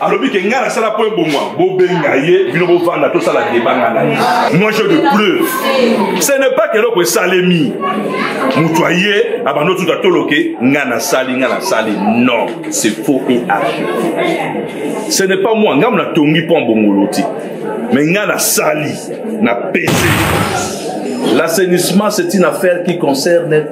alobi ke ngai nasala mpo ebongwa bobenga ye bino bovanda tosala debanga na ye moi je de preuve ce n'est pas keloko esalemi moto aye abanda otuta toloke ngai nasali ngai nasali non c'est faux et age ce n'est pas moi ngambo natongi mpo abongolo te mais ngai nasali na pese l'assainissement c'est une affaire qui concerne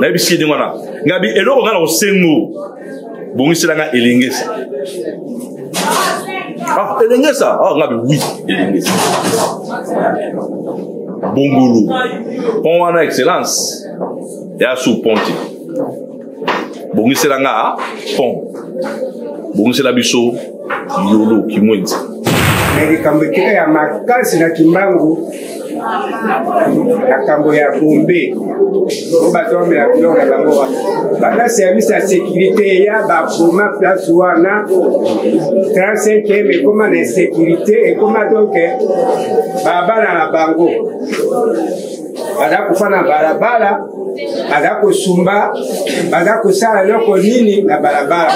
nayebisi ye ndenge wana ngabi eloko ngai na kosengo bongisela ngai elengesa ah elengesa ah ngabi wi elengesa bongolu pon wana excellence ya su ponte bongisela ngai pon bongisela biso yolo kimwenzi na likambo etika ya makasi na kimbangu makambo ya bombe o bato bamela biloko na bango wana banda service ya sécurité ya baboma place wana 35 ekoma na insécurité ekoma donc babana na bango baza kofa na balabala baza kosumba baza kosala eloko nini na balabala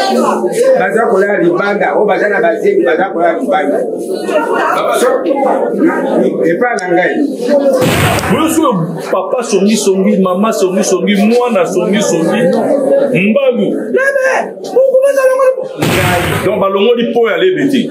baza kolala libanda oyo baza na bazemi baza kolala libanda epa na ngai oyosoyo papa songisongi mama songisongi mwana songisongi mbangu donc balongoli mpo ya lebe te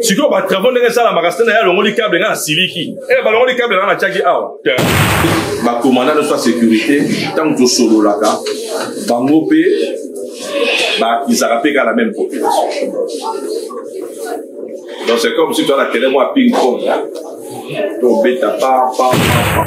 sikoyo batravau ndenge esalamaka sena ye alongoli cable ngai nasiliki e eh, balongoli cable ngai natiaki awa bakomanda nyonso ya sécurité ntango tosololaka bango mpe bakizaka mpe kaka na meme population donc c'est comme si toza na terrain mwa ping pong tobeta pa pa pa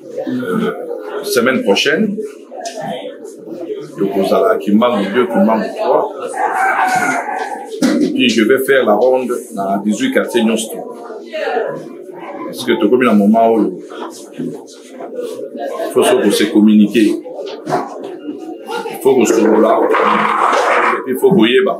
euh, semaine prochaine tokozala kimbangu 2 kimbangu 3 epuis je vais faire la ronde na 18 quartier nyonso to parce que tokomi na moment oyo faut so kose communiquer faut kosolola epuis faut koyeba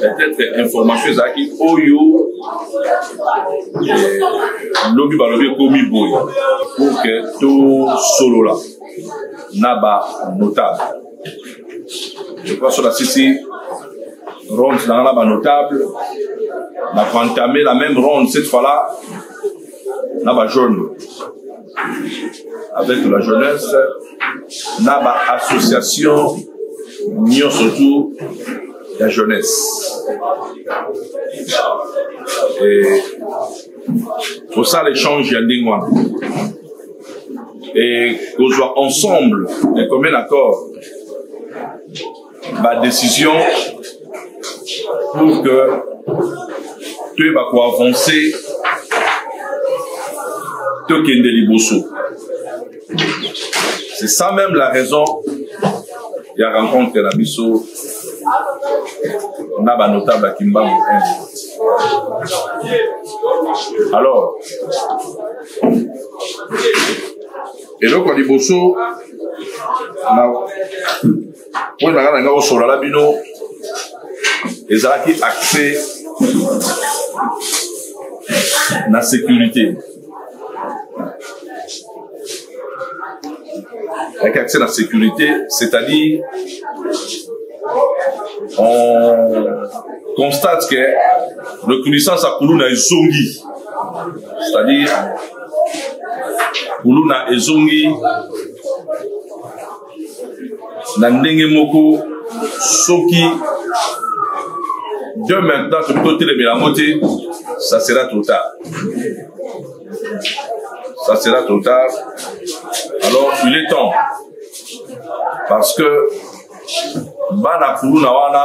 peut-être information ezalaki oyo eh, lobi balobi ekomi boye pour que tosolola na banotable ekoasola sisi ronde nanga na banotable na koentame la même ronde cette fois là na bajaune avec la jeunesse na ba association nyonso tout ya jeunesse e, kosala échange ya ndenge wana e kozwa ensemble ekomena accord ba décision pour que toyeba koavanse tokende liboso c'est ça même la raison ya rencontre na biso na banotable ya kimbangu alors eloko ya liboso na oyo ezalaka na ngai kosolala bino ezalaki accès na sécurité avec accès à la sécurité, c'est-à-dire on constate que reconnaissance à Kuluna est zongi, c'est-à-dire Kuluna est zongi na ndenge moko soki de maintenant tokoki totelemela yango te ça sera trop tard ça sera trop tard alors il est temps parce que bana kuluna wana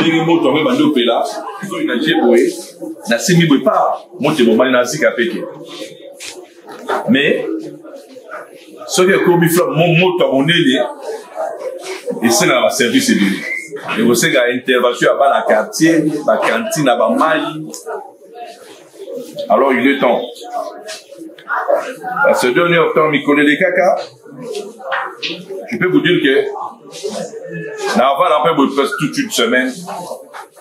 ndenge moto yango ebandi opela soki na je boye nasimbi boye pa moto ebomani na sika peke mais soki ekomi moto ya monene esengaka baservice ebele ekosenga intervention ya bana quartier bakantine ya bamai alors il est temps parce que deux heures temps mikolo elekaka je peux vous dire que na avanda mpe boye presque toute une semaine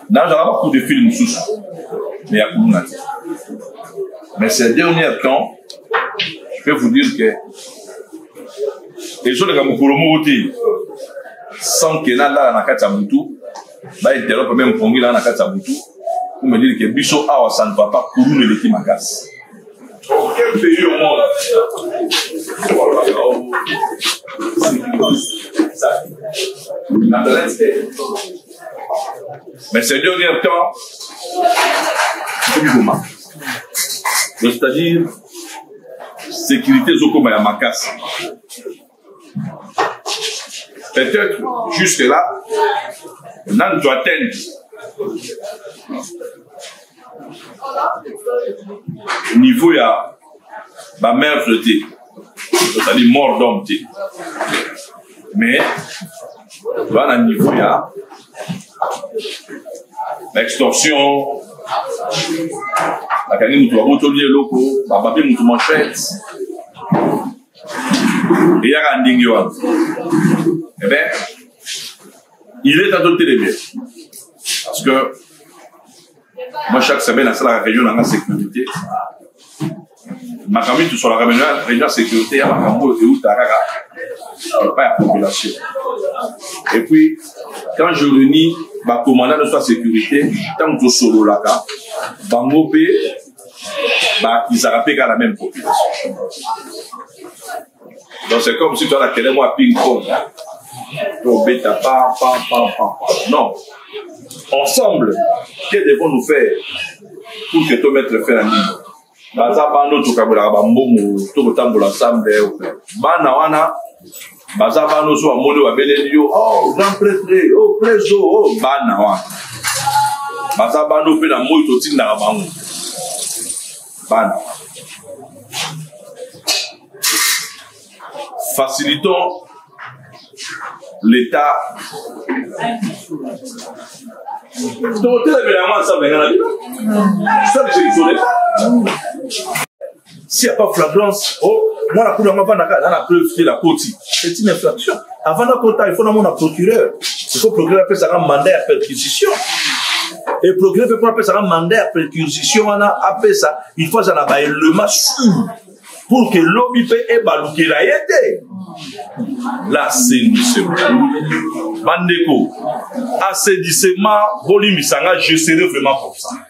nazala bacoup de fil mosusu mais ya kuluna te mais ces dernier temps je peux vous dire que ezoleka mokolo moko te sans ke nalala na kati ya motu ba interrompre meme pongi la na kati ya butu pour me dire que biso awa ça ne va pas kuluna eleki makasi aucun pays au monde mais c'est dernier temps tobikoma c'est-à-dire sécurité ezokoma ya makasi peut-être jusque là nanu to atteindre niveau ya bamervre te tozali mort d'homme te mais toza na niveau ya baextorsion bakangi moto babotoli eloko bababi moto manchete eyaka ndenge wana ebe eh il est temps totelemela parce que moi chaque semaine nasalaka réunion nanga sécurité makambo mitu solaka réunion ya sécurité ya makambo oyo euta kaka epai ya population et puis quand je reunis bakomanda nyonso ya sécurité ntango tosololaka bango mpe bakisaka mpe kaka na meme population donc c'est comme si toala kele mwa ping pong tobeta pa pa pa pa non ensemble que devons nous faire pour que to mettre fin na nini baza bando tokabolaka bambongo to kotambola nsambe bana wana baza bana oso bamoni babeleli yo oh, grand pretre o oh, preso o oh, bana wana baza bana mpe na moi totindaka bango bana facilitons l'état tokotelemela yango ensemble nga na bino sali jelisole si ya pas flagrance oh mwana kulu yango avandaka na na preuve te la koti c'est une infraction avant na kota il faut namona procureur il faut procureur apesaka mandat ya perquisition et procureur mpe mpo apesaka mandat ya perquisition wana apesa il faut azala baelema sur pour que lobi mpe ebalukela ye te l'assainissement bandeko assainissement bolimbisa nga je serai vraiment comme ça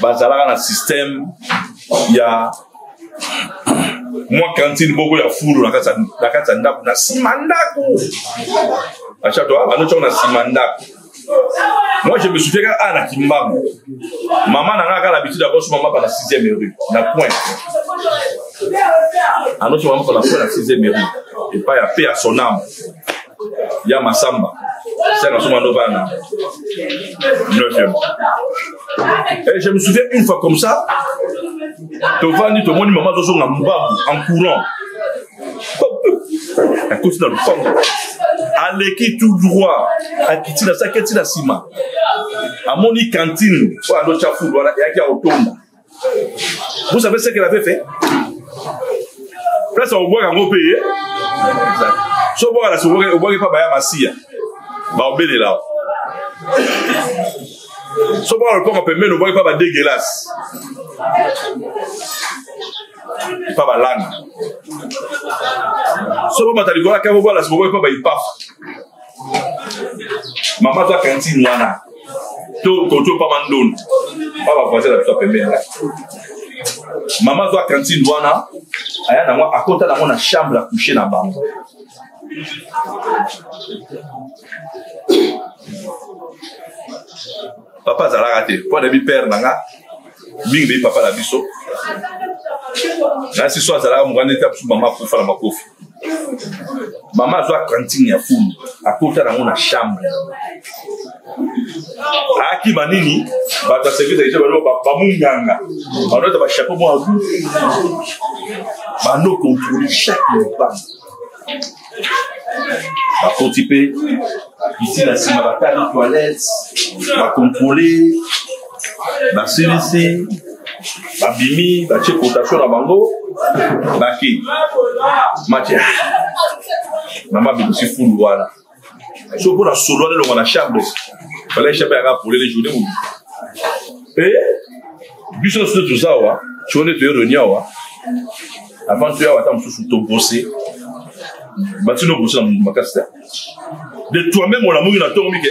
bazalaka na système ya mwa kantine moko ya fulu na kati ya ndako na nsima ndako achato ah, banotiako na nsima ndako moi je me souviens kaka ah, na kimbangu mama na nga kaka l'habitude akoso mama pa na 6e rue na coin anoso mama pa na coin na 6e rue epai ya pe ya sonam ya masamba saka soma ndovana 9e Et je me souviens une fois comme ça, tovandi tomoni mama azozonga mbabu en courant akoti na lopango aleki tout droit akiti na saki eti na nsima amoni kantine oyo alotya fulu wana eyaki ya kotonda vous savez ce qu'elle avait fait place akobwaka yango mpe ye so obwaka na sokobwaki mpa baya masiya baobelela so obwaka lopango pembeni obwaki mpa badegelase mpa balanda so bomata likolo akabobwala sokobwaki mpa baipafa mama aza kantine wana to koto pa mandondo pa bavoisin na biso ya pembeni wana mama azwa kantine wana aya nango akota nango na chambre ya couche na bango papa azalaka te mpo anayebi pere na nga mingi beyi papa na biso nasi so azalaka mokanda ete biso mama akufa na makofi mama azwa cantine ya fulu akota nango na chambre akima nini bato ya service aisha balo bamunganga banota bachapeau mwa agu bano controle chaque lopanga bakoti mpe iti na nsima batali toilette bakontrole basilisi babimi batie cotation na bango baki matia mama bimisi fulu wana so mpo na solo wana elonga na chambre fallait chambre yaka polele journée mobi mpe biso nyonso nde toza awa soko nde toye reni awa avant toya awa ata mosusu tobose batino obose na makasi te de toi-même olamuki na ntongo mike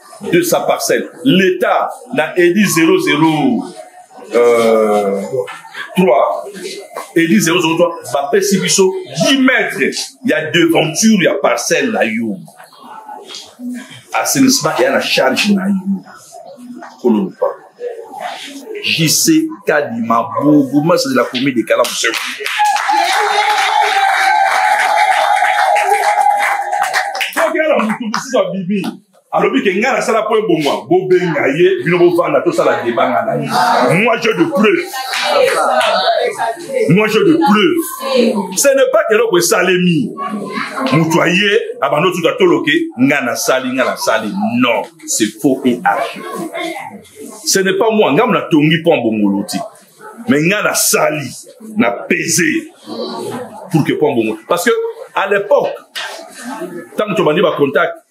de sa parcelle l'état na edi 00 euh, 3 edi 003 bapesi biso 10 mètre ya devanture ya parcelle na yo assainissement eya na charge na yo kololopa jc kadima bourgoumestre de la commune de kalamu tokela motu mosusu abibi alobi ke ngai nasala mpo ebongwa bobenga ye bino bovanda tosala debanga na ye moi je de preuve moi je de preuve ce n'est pas keloko esalemi moto aye abanda otuta toloke ngai nasali ngai nasali non c'est faux et archi ce n'est pas moi ngai mo natongi mpo abongolo te me ngai nasali na pese pour que mpo abongolo parce que à l'époque ntango tobandi bacontact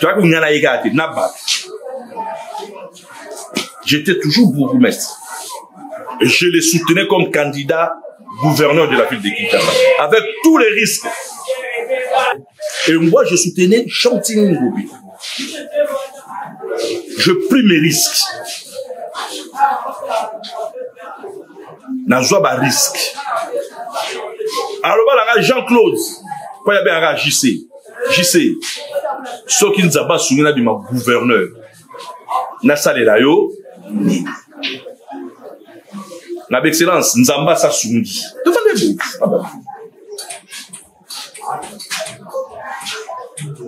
toyaki kolinga na ye kaka te na bato j'étais toujours bourgmestre et je le soutenais comme candidat gouverneur de la ville de Kinshasa avec tous les risques et moi je soutenais Chantini Ngobi je pris mes risques nazwa ba risque aloba na ngai jean claude mpo ya bengaka jc jc soki nzambe asungi na bima gouverneur nasalela yo nini na baexcellence nzambe asasungi tofandi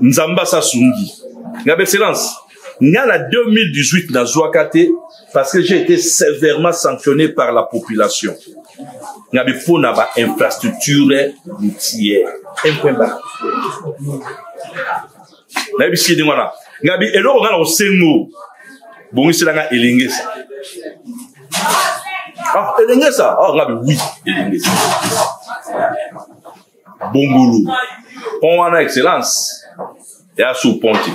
nzambe asasungi ngaba excellence nga na 2018 nazwaka te parce que j'ai été sévèrement sanctionné par la population ngabe mpo na bainfrastructure routière empremba nayebisi ye ndenge wana ngabi eloko ngai na kosengo bongisela ngai elengesa ah elengesa ah ngabi wi elengesa bongulu pont wana excellence ya sous ponti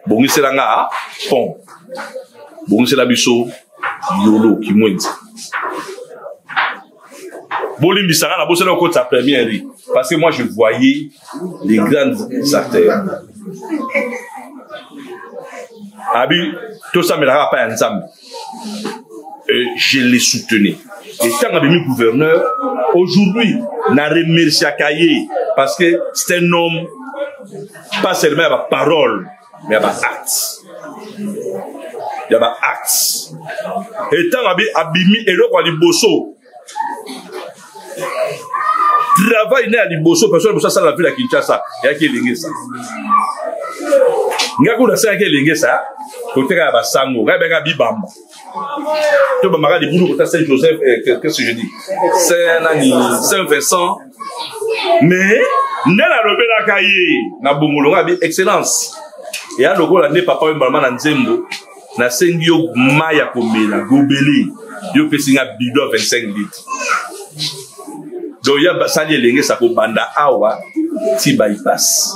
bongisela nga ah, pont bongisela biso yolo kimwenzi bolimbisa nga na bosana okotisa première rue parce que moi je voyais les grandes acteurs abi tosambelaka epai ya nzambe euh, je les soutenais ntango abimi gouverneur aujourd'hui na remerciaka ye parce que c'est un homme pas seulement ya baparole mais ba actes ya ba actes etango abi abimi eloko ya liboso travail na ya liboso personne liboso asala na ville ya kinshasa eyaki elengesa ngai kuna asalaki elengesa koteka ya basango ngai bengaka bibamba to bamaka libulu kota saint joseph eh, qu'est-ce que je dis saint nani saint vincent mais nde nalobelaka ye na bongolo nga bi excellence eya lokola nde papa oyo mbalama na nzembo nasengi yo mai ya komela gobele yo opesi nga bido ya 25 litre donc ya basali elenge sa kobanda awa ti bypass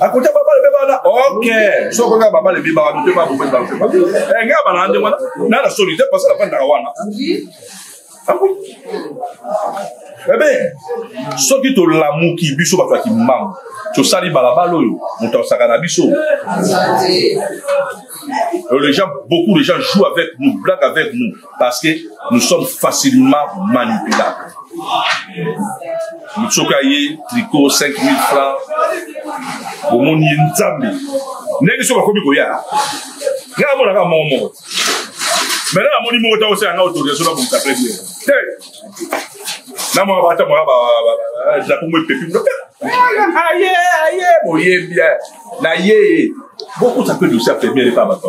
akuta babale mpe bana ok soko kaka babale mpe bana mpe bana mpe bana mpe bana eh, ngai bana nde wana na na soni te parce que nafandaka wana ebe ah eh soki tolamuki biso bato ya kimbangu tosali balabala oyo moto asaka na biso les gens beaucoup de gens jouent avec nous blague avec nous parce que nous sommes facilement manipulables motu soki aye tricot 5000 francs omoni ye nzambe ndenge soki akomi koya ngai amonaka moko moko maintenant namoni moko ta osala nga autorisation na bongisa plein bien te na mwa bata mwa drapo mo epepi aye aye boye bien na ye bokuta mpe dosi ya premiere epa bato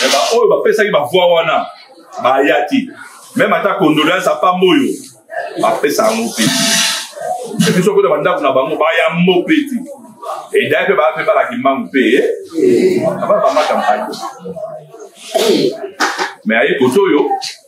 me baoyo bapesaki bavoi wana baya te meme ata condoleance apamba oyo bapesa yango mpe biso kota bandako na bango bayambo mpe te edai mpe baa mpe balaki mbangu mpe abaa bamata mpai me aye koto oyo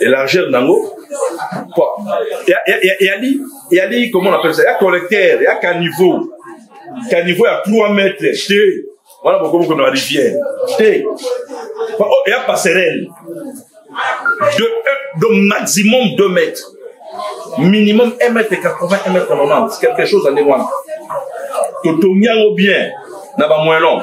et largeur nango yali yali comment on appelle ça ya collecteur ya caniveau caniveau ya 3 mètres te wana bokomi kona rivière te ya passerelle de, de maximum 2 mètres minimum 1 mètre 80 1 mètre 90 quelque chose ya ndenge wana totongi yango bien na bamoyen long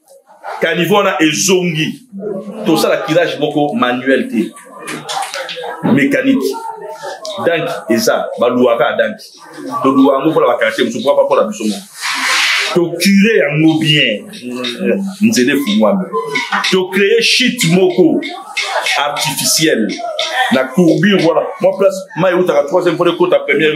caniveau wana ezongi tosala kirage moko manuel te mécanique danki eza baluaka ya danki toluwa yango mpona bakartier mosusu mpo mpona biso moko tokire yango bien nzela efungwami tocreye shit moko artificiel na courbure wana mwa place mai eutaka troisième mpona ekota première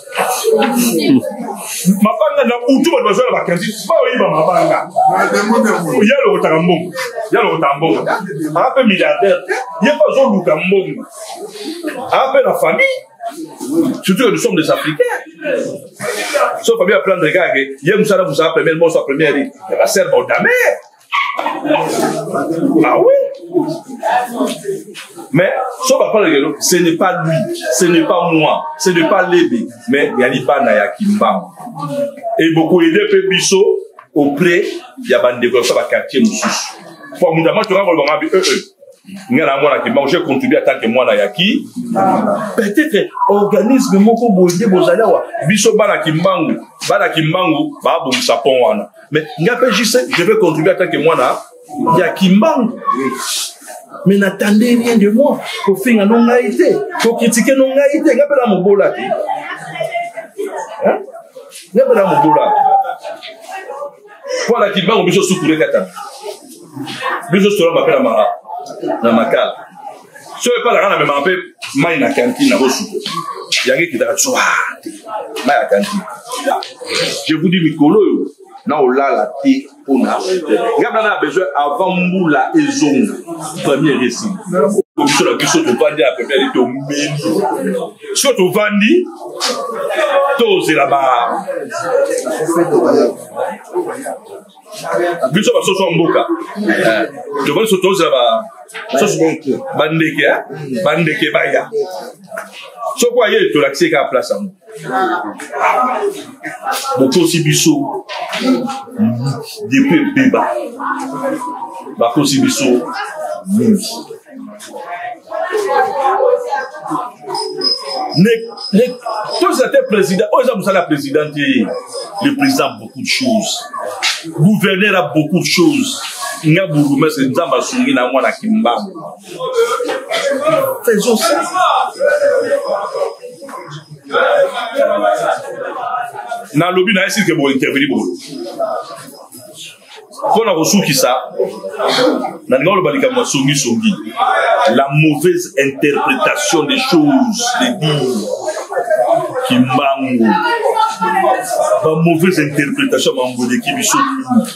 mabanga na utu bato baza na bakredi baoyiba mabanga ya lokotaka mbongo ya lokotaka mbongo aa mpe milliardaire ye mpe azoluka mbongo aa mpe na famille surtout que nous sommes des africains so famille aplande kaka ye mosala mosala première moso ya première ya basere baodamere Ah oui Mais, sauf pas parler de ce n'est pas lui, ce n'est pas moi, ce n'est pas Lébé, mais Yaliba Naya Kimbam. Et beaucoup aidé Pébisso auprès de la bande de la quartier Moussous. Pour mon amant, tu vas voir le mambi, euh, euh. nga na mwana kimbango j'ai contribué en tant que mwana ya ki peut-être organisme moko boye bozali awa biso bana kimbangu bana kimbangu babongisa pont wana mais nga mpe juste je vais contribuer en tant que mwana ya kimbangu mais n'attendez rien de moi kofinga no ngai te kokritike no ngai te nga mpe na mobola te nga mpe na mobola mpo na kimbangu biso sukure kata biso solama mpe na mara na makala so epai na nga na memaka mpe mai na kantine na kosuko yango ekitaka tswa mai ya kantine je vous dis mikolo oyo na olala te mpona nga bana na besoin avant mbula ezonga premier resi biso na biso tovandi ya pepele tomeli so tovandi tozela ba biso basoso ya mboka eh, tokoki so tozela bandeke eh? bandeke baya soko aye tolakisi ye kaka place yango bokosi biso depuis ebeba bakosi biso mingi toza te président oyo eza mosala ya président te le président beaucoup de choses gouverneur a beaucoup de choses nga bourgmestre nzambe asungi na mwana kimbangu faisons ça nalobi na ye sirke bointerveni boye mpo na kosukisa nalingi oloba likambo ya songisongi la mauvaise interprétation des choses de dire kimbangu ba mauvaise interprétation ya mambo eleki biso mingi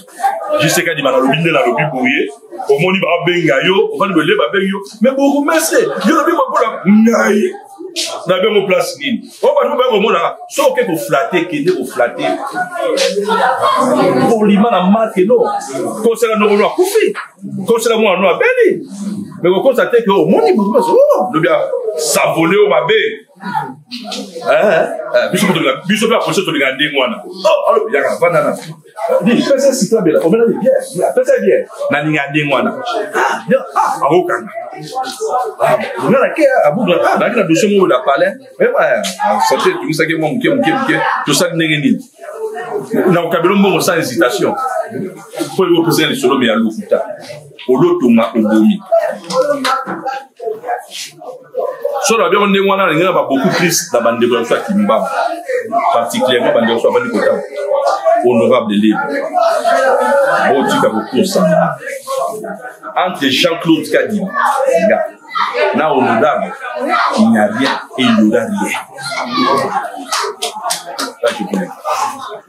jisekadi banalobi nde nalobi boye omoni babenga yo ofani boye nde babengi yo me bourgmestre yo lobi mabola ngai na bengo place nini oyo bato baye komonaka soki oke koflate kende koflate polima na make no kosela nokolo akufi kosela mwana no abeli me kokosa te ke omoni bato bazo lobi savole oyo mabe biso mpe apolisi tolingana ndenge wana alobi yaka vandana pesa sika bela omela ye bien pesa ye bien na ninga ndenge wana akokanga nga na ke abuka naki na dossier moko na palais oyeba sante etungisaki mwa moke moke moke tosali ndenge nini na okabelo mbongo sans hésitation mpo ekopesa lisolo me ya lokuta olotonga obomi so na biango ndenge wana nalingi na baboku plus na bandeko ya biso ya kimbamba particulièrement bandeko biso abandi kotanga honorable libre botika kokosana entre jean claude kadima nga na honorable il n'y a rien et il n'y aura rien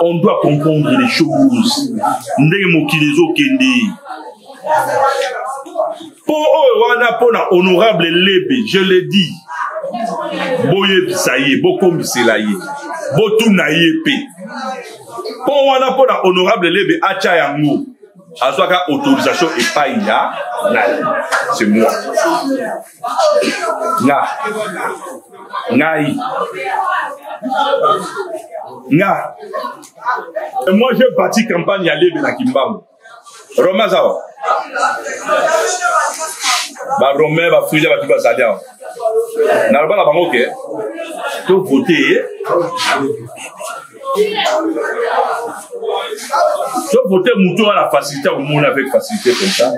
on doit comprendre les choses ndenge mokili ezokende mpo oyo wana mpo na honorable lebe je le dis boyebisa ye bokomisela ye botuna ye mpe mpo wana mpo na honorable lebe atya yango azwaka autorisation epai ya nani c'est moi nga ngai nga moi je bati campagne ya lebe na kimbangu roma aza wa barome bafrija bato bazali awa naloba na bango ke tovote ye to vote moto wana facilité akomona avec facilité comme ça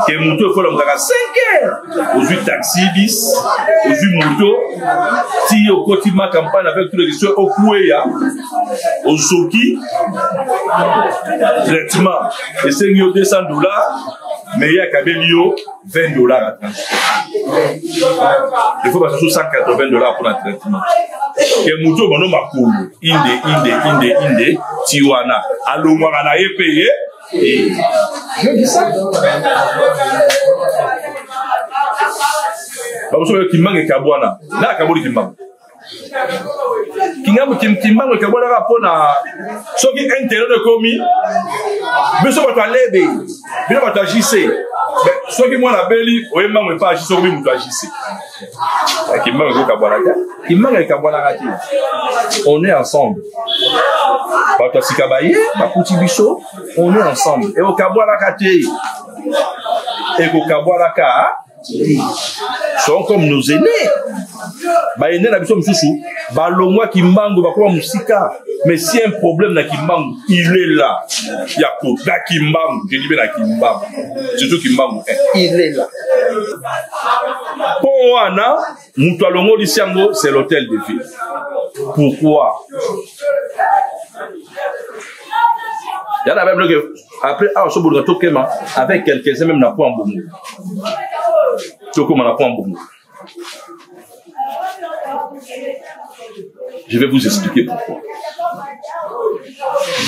ke moto ekola mokaka 5 heures ozwi taxi bis ozwi moto ti okoti ma campagne avec tout legislation okueya ozoki traitement esengi yo 200 dollars mais ye akabeli yo 20 dollars na transport efo basusu 180 dollars mpo na traitement ke motu oyo bano makolo inde inde inde inde ti wana alongwaka na ye mpe ye bakosoba kimbange kabwana na akaboli kimbange kingambo kimbango ekabwanaka mpo na soki internet ekomi biso bato ya lebe bino bato ya jc soki mwana abeli oye mbango epa jc okomi moto ya jc eh, kimbango ekokabwana te kimbango ekabwanaka te on est ensemble bato ya sika baye bakuti biso on est ensemble ekokabwanaka te ekokabwanaka sont comme nos aînés baene na biso mosusu balongwa kimbangu bakoma mosika mais si un problème na kimbangu il est là ya kota kimbangu jedi mpe na kimbangu surtout kimbangu eh, il est là mpo wana moto alongolisi yango c'est l'hôtel de ville pourquoi ya na bible ke après awa so boluka tokema avec quelques-uns même na point bongo tokoma na point bongo je vais vous expliquer pourquoi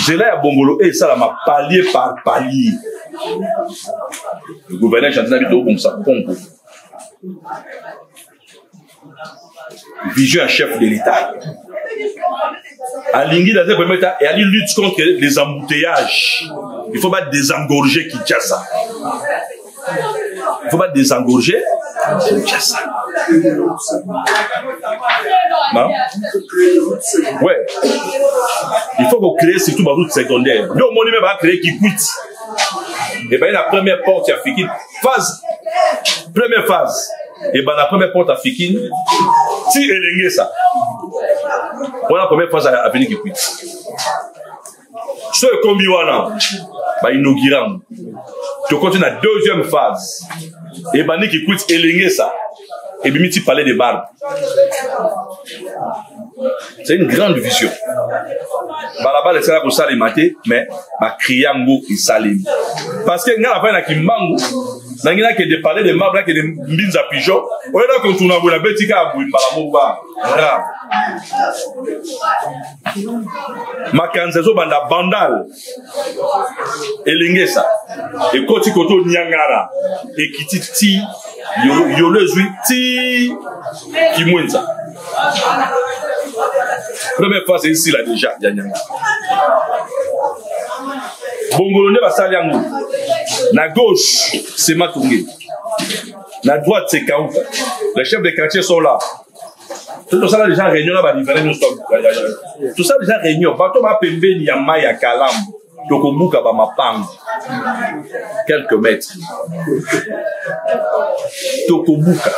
nzela ya bongolo oyo esalama palier par palier le gouverneur chantina bito obongisa kongo vision ya chef de l'état alingi dans un premier état et ali lutte contre les embouteillages il faut pas désengorger kinshasa il faut pas désengorger kinshasa non ouais il faut qu'on crée surtout baroute secondaire nde omoni me baa crée kikwiti ebaye na première porte ya fikini phase première phase ebanda première porte afikini ti elengesa wana première phase ya aveni kikwiti so ekombi wana bainaugure yango tokoti na deuxième phase ebandi kikwiti elengesa ebimi ti palais de barbe c'est une grande vision balabala esala kosalema te mais bakrie yango esalemi parce que ngai nafai na kimbangu nangi nakende palais de marbre nakende mbinza pigeon oyo na kontuna boye nabeti kaka boye mbala moko ba ra makanza ezobanda bandal elengesa ekoti koto niangara ekiti ti yolo ezwi ti kimwenza première fois c'est ici là déjà ya niangara bongolo nde basali yango na gauche sematonge na droite c'est kauka les chefs de quartier sont là tosala deja réunion na bariverain nyonso tosala deja réunion bato bapembeni ya mai ya kalamu tokobuka bamapango quelques mètres tokobuka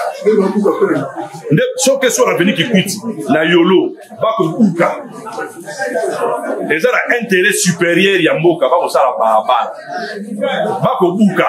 nde soki esi oreveni kikwiti na yolo bakobuka eza na intérêt supérieur ya mboka bakosala balabala bakobuka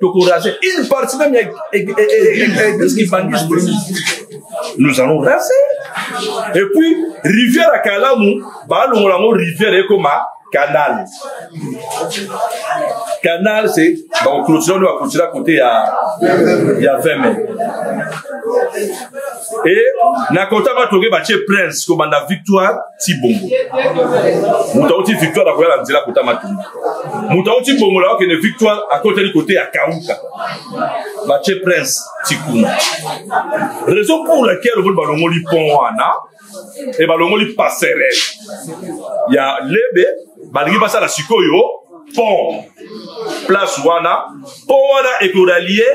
tokorase une partie même ya église kibangiste nous allons raser et puis rivière ya kalamu baalongola yango rivière ekoma canal canal c'est bakoclotira nde bakoclotira kote ya ya 20 mai e na kota batoke batie prince kobanda victoire ti bongo moto auti victoire akoya na nzela kota matumba moto auti bongola akende victoire akoteli kote ya kauka batie prince tikuna raison pour laquelle oboni balongoli pont wana e balongoli passerelle ya lebe balingi basala sikoyo pont place wana pont wana ekoralie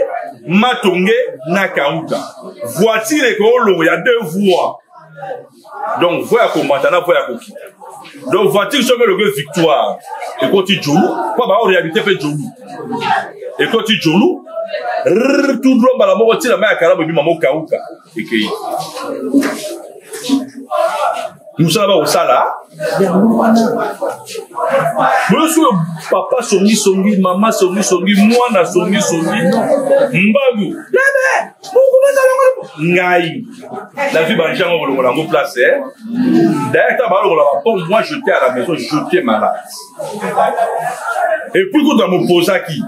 matonge na kauka voiture ekoolongo ya deux voies donc voi ya komata na voi ya kokita donc voiture soki elobi victoire ekoti jolu mpo bao réalité mpe jolu ekoti jolu tout droit mbala moko ntina mai ya kalamu ebima mokauka ekei mosala bakosala boyosi oyo papa songisongi mama songisongi mwana songisongi mbangu ngai La vie bangi yango kolongola yango place eh? d'ailleurs ntango balongola bapombe moi jete à la maison jete malade epuis kutu na mopozaki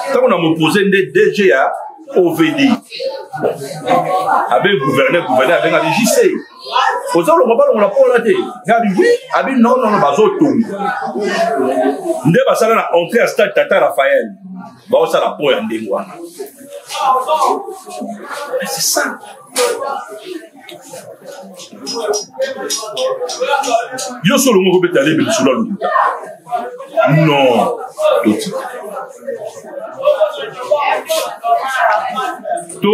ntango na mopose nde dg ya ovd abe gouverneur gouverneur abengaki jc oza olongo balongola mpola te ngabi wi abi nonono bazotonga nde basala na entrée ya stade tata raphael baosala po ya ndenge wana c'est ça yo so olongo kobeta lebe lisolo ya lokuta non totika to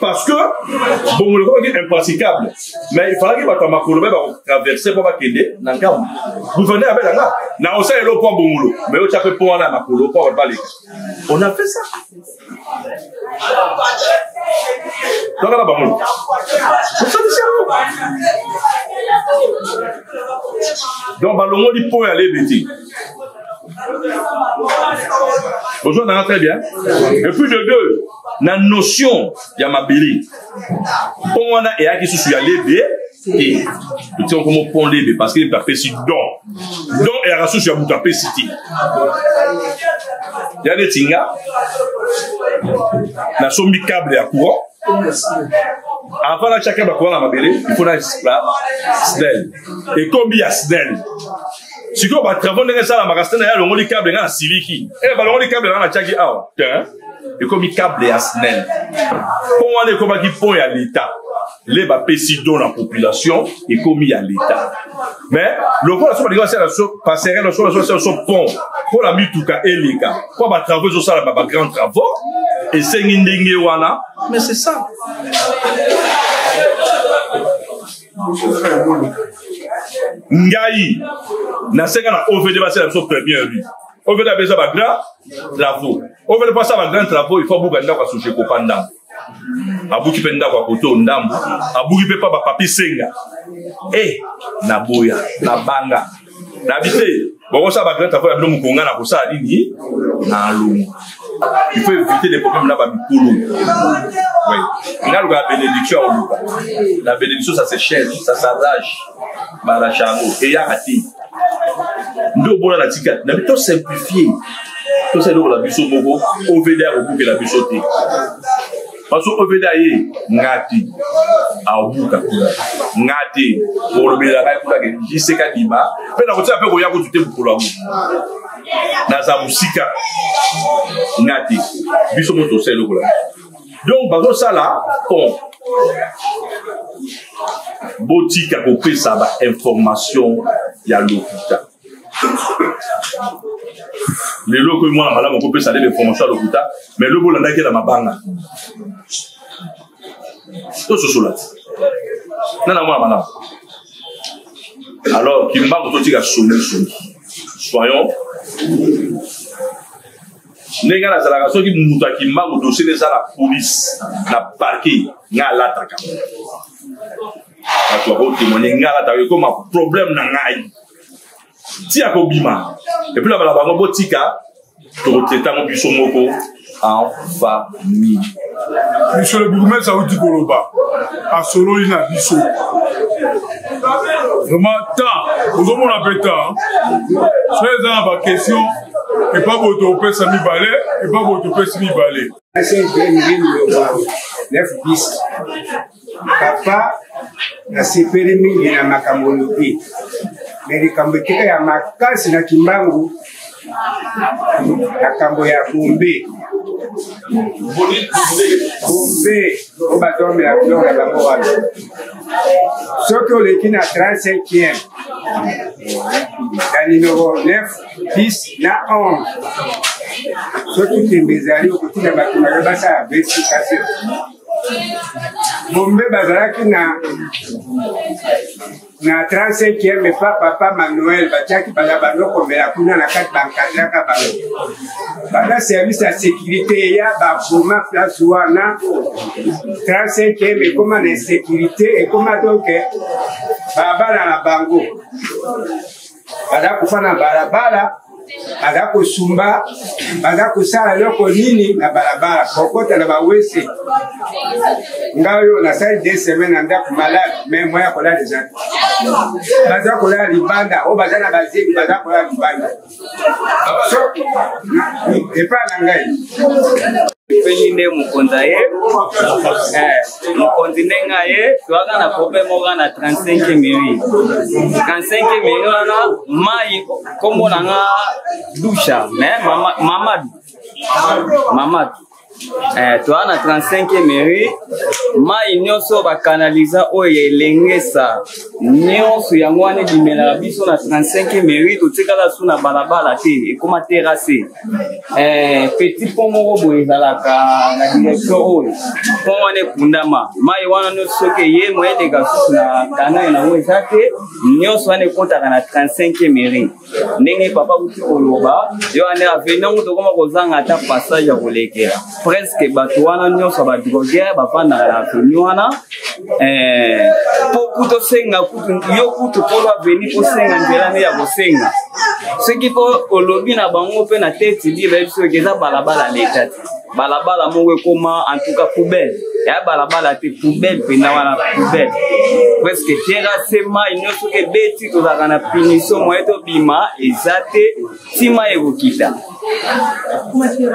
parce que bongo lokoki impraticable mais ifalaki bato ya makolo baye bakotraverse mpo bakende na ngambo gouverneur abela nga na osala elo mpo bongolo mais otya mpe mpo wana ya makolo mpo bato baleka on a fait ça tokala bamoni osalisi yango donc balongoli mpo ya lebe te Bonjour, Nana, très bien. Et puis de deux, la notion ya mabele mpo wana eyaki susu ya lebe te totiaka komo pont lebe parce que lebe apesi don don eyaka susu ya moto apesi te ya neti nga nasombi cable ya courant avant natyaka bacourant na mabele il faut na snel ekomi ya snel sikoyo batravau ndenge esalamaka sene ya alongoli cable ngai nasiliki e eh, balongoli cable ngai natiaki awa te ekomi cable ya snel mpo wana ekomaki pont ya leta le bapesi don na population ekomi ya leta mais lokola so balingi basala so passerelle so basala so pont mpo na mituka eleka mpo batravau ezosalama bagrand travaux esengi ndenge wana mais c'est ça ngai nasenga na ovd basala biso premier lui ovd abeza ba grand travaux ovd mpo asala ba grand travaux il faut abuka ndako ya sojeko pa ndambo abuki mpe ndako ya koto ndambo abuki mpe pa bapapi senga e eh, naboya nabanga na bi te bokosala bagrete akoya bino mokonga na kosala nini na longo il faut éviter les problèmes na bamikolo oui. nga luka bénédiction akoluka la bénédiction ça se cherche ça s'arrache barache yango eyaka te nde obona na tika na bi tosimplifie tosala eloko na biso moko ovd akobukela biso te parce que oveda ye nga te aobuka kuna nga te kolobela ngai kuna ke jiseka dima mpe nakotika mpe koya kutu te mokolo yango naza mosika nga te biso moto osala eloko na donc bazosala pont botika kopesa bainformation ya lokuta lelo okomi mwana malamu okopesa nde bainformation ya lokuta mai lobi olandaki na mabanga tososola te nana mwana malamu alors kimbangu totika songi songi soyons ndenge nga nazalaka soki moto ya kimbangu dosie eza na polise na parke nga alataka bato bakotemone ngala ta ekoma problème na ngai ti akobima epuis na bala bango botika tokotetango biso moko en famille monsieur le bourgmestre awuti koloba asololi na biso vraiment temps ozomona mpe temps so eza na baquestion epa boye tokopesa mibale epa boye topesi mibale papa nasepeli mingi na makambo olobi me likambo etika ya makasi na kimbangu makambo ya bombe bombe o batome ya biloko ya bango wana soki oleki na 35 na nimero 9 10 na 11 soki ntembe ezali okotinda bato na yo basala verification bombe bazalaki na na 35e epa papa manuel batiaki baza banokomela kuna na kati bankadraka bango bana service ya sécurité eya baboma place wana 35e ekoma na insécurité ekoma donke babala na bango baza kofa na balabala baza kosumba baza kosala eloko nini na balabala kokota na bawese nga oyo nasali de semaine na ndako malade mai mwa ya kolala eza baza kolala libanda oyo baza na bazeli baza kolala libanda so epai na ngai mpenyi nde mokonzi aye eh. mokonzi ndenge aye toyaka na problème oka na 35 miri 35 miri wana mai nkombo na nga dusha me mamadu mamadu eh, toa na 35 mairie mai nyonso bakanaliza oyo ya elengesa nyonso yango wana ebimelaka biso na 35 mairie totikala su na balabala te ekoma terase Eh, petit pont moko boye ezalaka na direction oyo pont wana ekundama mai wana nyonso soki eye moye eleka susu na kanal yango eza te nyonso wana ekotaka na 35 mairie ndenge papa kutu koloba yo wana aveni yango tokoma kozanga ata passage ya kolekela presque bato wana nyonso badroguer bafandaka na aveni wana eh, po kutu osenga kutu yo kutu polo aveni kosenga nzela nde ya kosenga soki po olobi na bango mpe na teti liba yebi soki eza balabala leta te balabala moko ekoma en tout cas poubelle ya balabala te poubelle mpenza wana poubelle presque terrasse mai nyonso ebeti tozalaka na punition moye tobima eza te nsima ekokita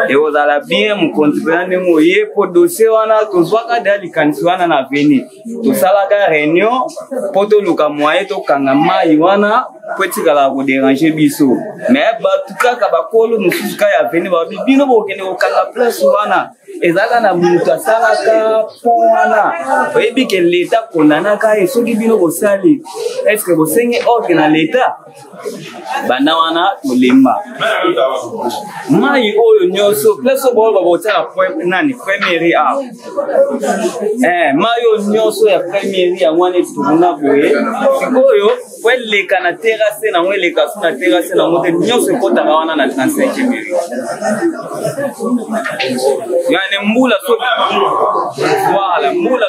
ekozala bien mokonzi mpena ndenge oye mpo dosie wana tozwaka deya likanisi wana na veni tosalaka réunion mpo toluka moye tokanga mai wana mpo etikala koderange biso me bato kaka bakolo mosusu ka ya veni babi bino bokende kokanga place wana ezalaka na moto asalaka mpo wana oyebi ke leta kondanaka ye soki bino bosali eske bosengi ordre na leta banda wana tolemba mai oyo nyonso place oyo baoyo bakotiaka nani premieri awa eh, mai oyo nyonso ya premieri yango wana etuna boye sikoyo po eleka na terase nango eleka so na terase nango te nyonso ekotaka wana na 35 miri yani mbula so voilà mbula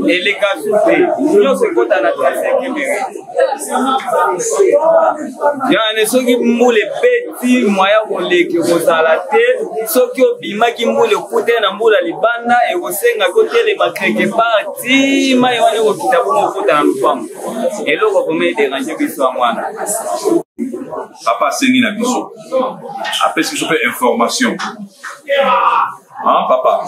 eleka su te nyonso ekota na trasekimere yane soki mbula ebeti mwaya koleki kozala te soki obimaki mbula ekute na mbula libanda ekosenga kotelema kreke parti mai wana ekokita bongo okota na lopango eloko vraimen ederange biso ya mwana papa asengi na biso apesi biso mpe information ah, papa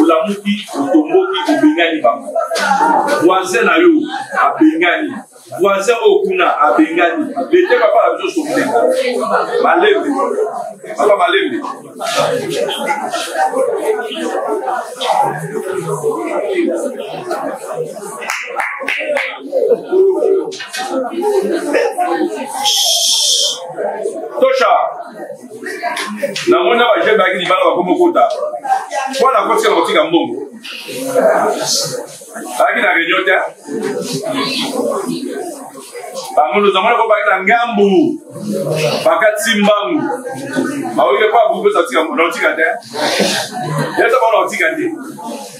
olamuki otomboki obengani bango voisin na yo abengani voisin oyo kuna abengani lete papa na biso sokile malembe papa malembe tosha nango na bajeune bayaki libala bakomi okota mpo na kotika na kotika mbongo bayaki na réunion te bangulu zamona ko bayaki na ngambu bakati mbangu baoyike mpo abuki mpe otika te yeta bana otika te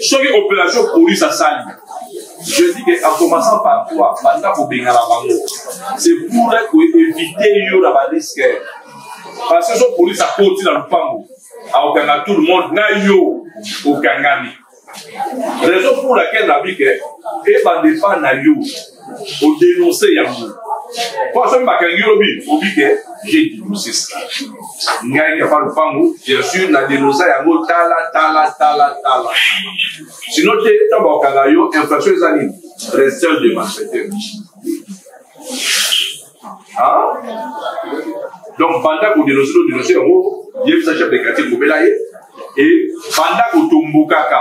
soki opération police asali je dis que en commençant par toi banda kobengana bango c'est pour koéviter yo na bariske parce que so police akoti na lopango akokanga tout le monde na yo okangami raison pour laquelle nabi ke ebanda epai na yo odenonse yango po asomi bakangi yo lobi obi ke je denonse ça ngai kapa lopango bien sûr na denonsa yango tala tala tala tala sino te ntango bakokanga yo infraction eza nini resteurs de malfaiteurs donc banda kodenonse nodenonse yango yebisa chef de quartier kobela ye e banda kotombokaka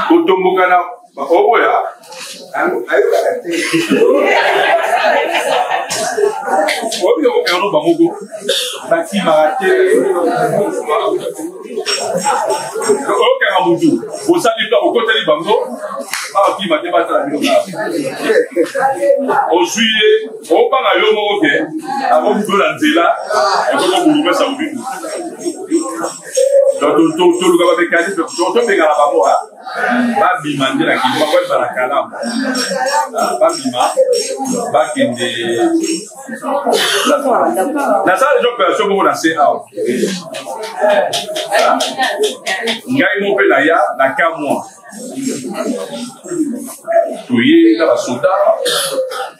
kotomboka na oboya ayokaka te oyo yango bamoko bakimaka te oyokaka motu osali to okoteli bango bakima te batala bino ozwi ye obanga yo moko ke akokudola nzela ekokobulumesa mobiku tolukaka mekanisme tobengana bango babima nde na kini bakoyeba na kalamu babima bakende nasala deja opération moko na se awa ngai mo mpe naya na ka mwa toye na basoda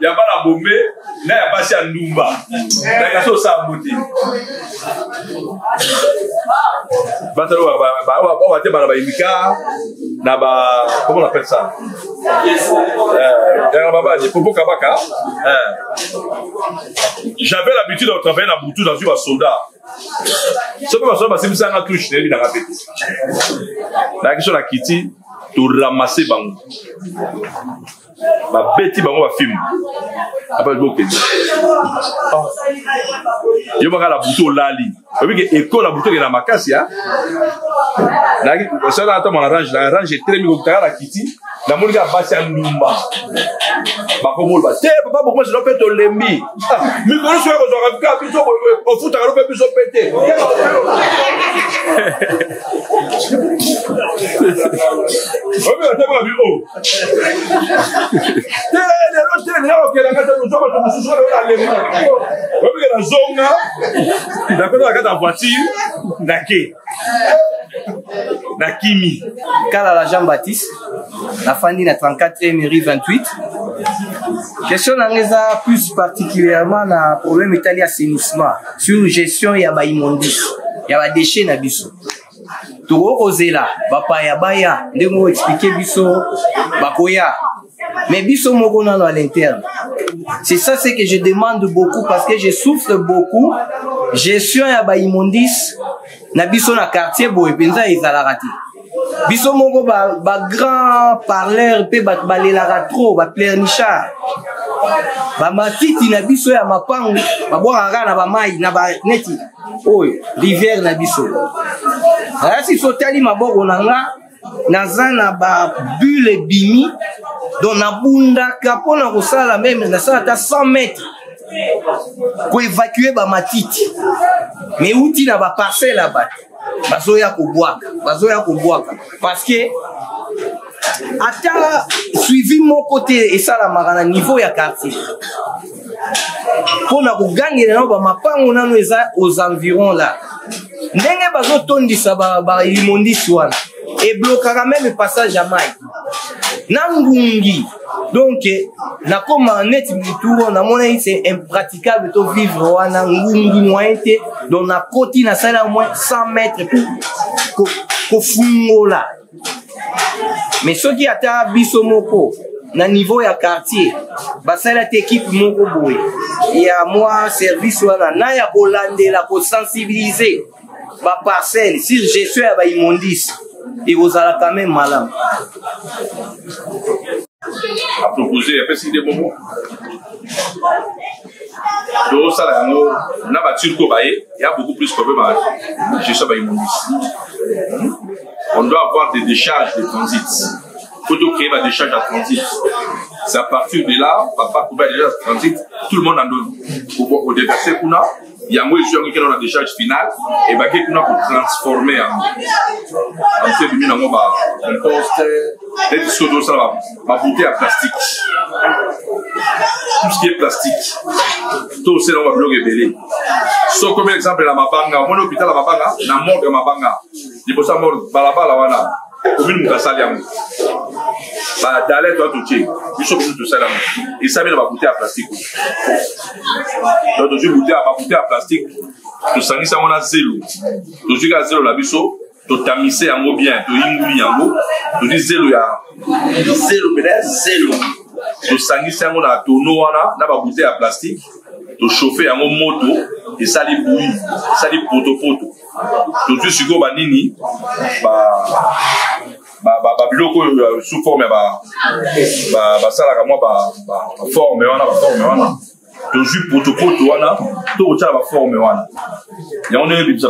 ya bana bombe na ya basi ya ndumba nayaka so osala mbote batalo bawate bana bayimika na ba comment on appelle ça euh, babadi popo kabaka euh. j'avais l'habitude de travailler na butu nazwi basoda soki basoda basimbisanga touche nayebi nanga mpe te nayaki so na kiti toramase bango babeti bango bafilme apa bokende ah. yo baka na butu olali obike ekolo na butu okenda makasi a sala ata mwana range na range etelemi kokutaka na kiti namoni kaka basi ya ndumba bakomoloba te papa bokomasi no mpe tolembi ah, mikolo soki ekozwaka bika biso ofutaka no mpe biso mpe te obi otemaka bi o te lelo te lelo okelaka te ozwa bato mosusu oyo alema obike nazonga nakota nakata voiture nake na kimi kalala jean baptiste nafandi na 34 emery 28 question nanga eza plus particulièrement na problème etali assainissement sur gestion ya baimmondice ya badeshe na biso tokoki kozela bapaya baya ndenge oexplike biso bakoya mais biso moko nano à l'interne c'est ça ce que je demande beaucoup parce que je souffre beaucoup gestion ya baimmondice na biso na quartier boye mpenza ezalaka te biso moko bagrand ba, ba parleur mpe bato balelaka trop baplernichard bamatiti na biso ya mapango babwakaka kaka na bamai na baneti oyo rivière na biso ayasi sotali maboko na nga naza na babule ebimi donc nabundaka mpo na kosala meme nasala ata 100 mètre koevacue bamatiti meuti na baparcelle ya bato bazoya kobwaka bazoya kobwaka parce que ata suivi moko te esalamaka na niveau ya quartier mpo na kogangela nao bamapango nano eza aux environs là ndenge bazotondisa balimondisi ba wana eblokaka meme passage ya mai na ngungi donc nakoma neti motu namonaki se impraticable to vivre wana ngungi moyen te donc nakoti nasala moins 100 mètre pour kofungola ko me soki ata biso moko na niveau ya quartier basali ata ekipe moko boye ya mwa service wana na ya kolandela kosensibilize baparcelle sur gestion ya baimmondice ekozala quand même malamu apropose apesi nde bongo tozosala yango na baturke oyo baye ya beaucoup plus problème ya gestion baimmondice on doit avoir des décharges de transit faut tout créer la décharge à transit c'est à partir de là papa kuba déjà à transit tout le monde en donne au déverser kuna yango ezwaki kino na décharge finale ebaki kuna kotransforme yango anse ebimi nango bacomposte neti soki tozosala babute ya plastique tout ce qui est plastique tosela yango babiloko ebele soki omi exemple na mabanga omoni hôpital ya mabanga na morgue ya mabanga liboso ya mor balabala wana komini moto asali yango badale to atotie biso biso tosali yango esami na babute ya plastike to tozwi bute ya babute ya plastike tosangisi yango na zelo tozwi kaka zelo na biso totamise yango bien toyinguli yango tozwi zelo ya zelo pena ya zelo tosangisi yango na tono wana na babute ya plastike toshofe yango moto esali bui esali potopoto tozwi sikoyo banini babiloko oyo sous forme ya basalaka mwa baforme wana baforme wana tozwi potopoto wana tokotyala baforme wana yango ndenge ebimisa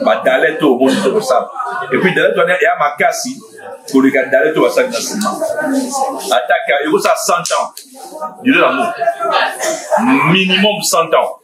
badalete oyo omoni tokosala epuis dalete wana ya makasi koleka dalete oyo basali na nsima ataka ekosala 100 ans dure yango minimum 100 ans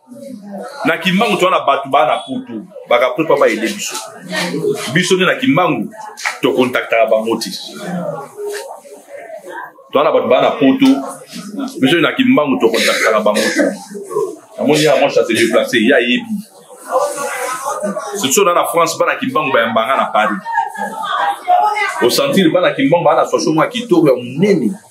na kimbangu toza na bato baa na poto bakapre mpa baede biso biso nde na kimbangu tokontaktaka bango te toza na bato baa na poto biso nde na kimbangu tokontaktaka bango te namoni ya mwa château déplacé ye ayebi surtout na na france bana kimbangu bayambanga na paris osentir bana kimbangu baa na soso mwa kitoko ya monene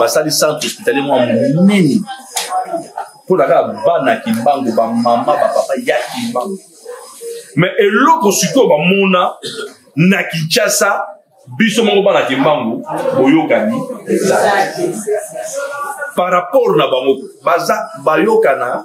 basali centre hospitalier mwa monene mpo na kaka bana kimbangu bamama bapapa ya kimbangu me eloko sikoyo bamona na kinshasa biso moko bana kimbangu boyokani ezali par rapport na bango baza bayokana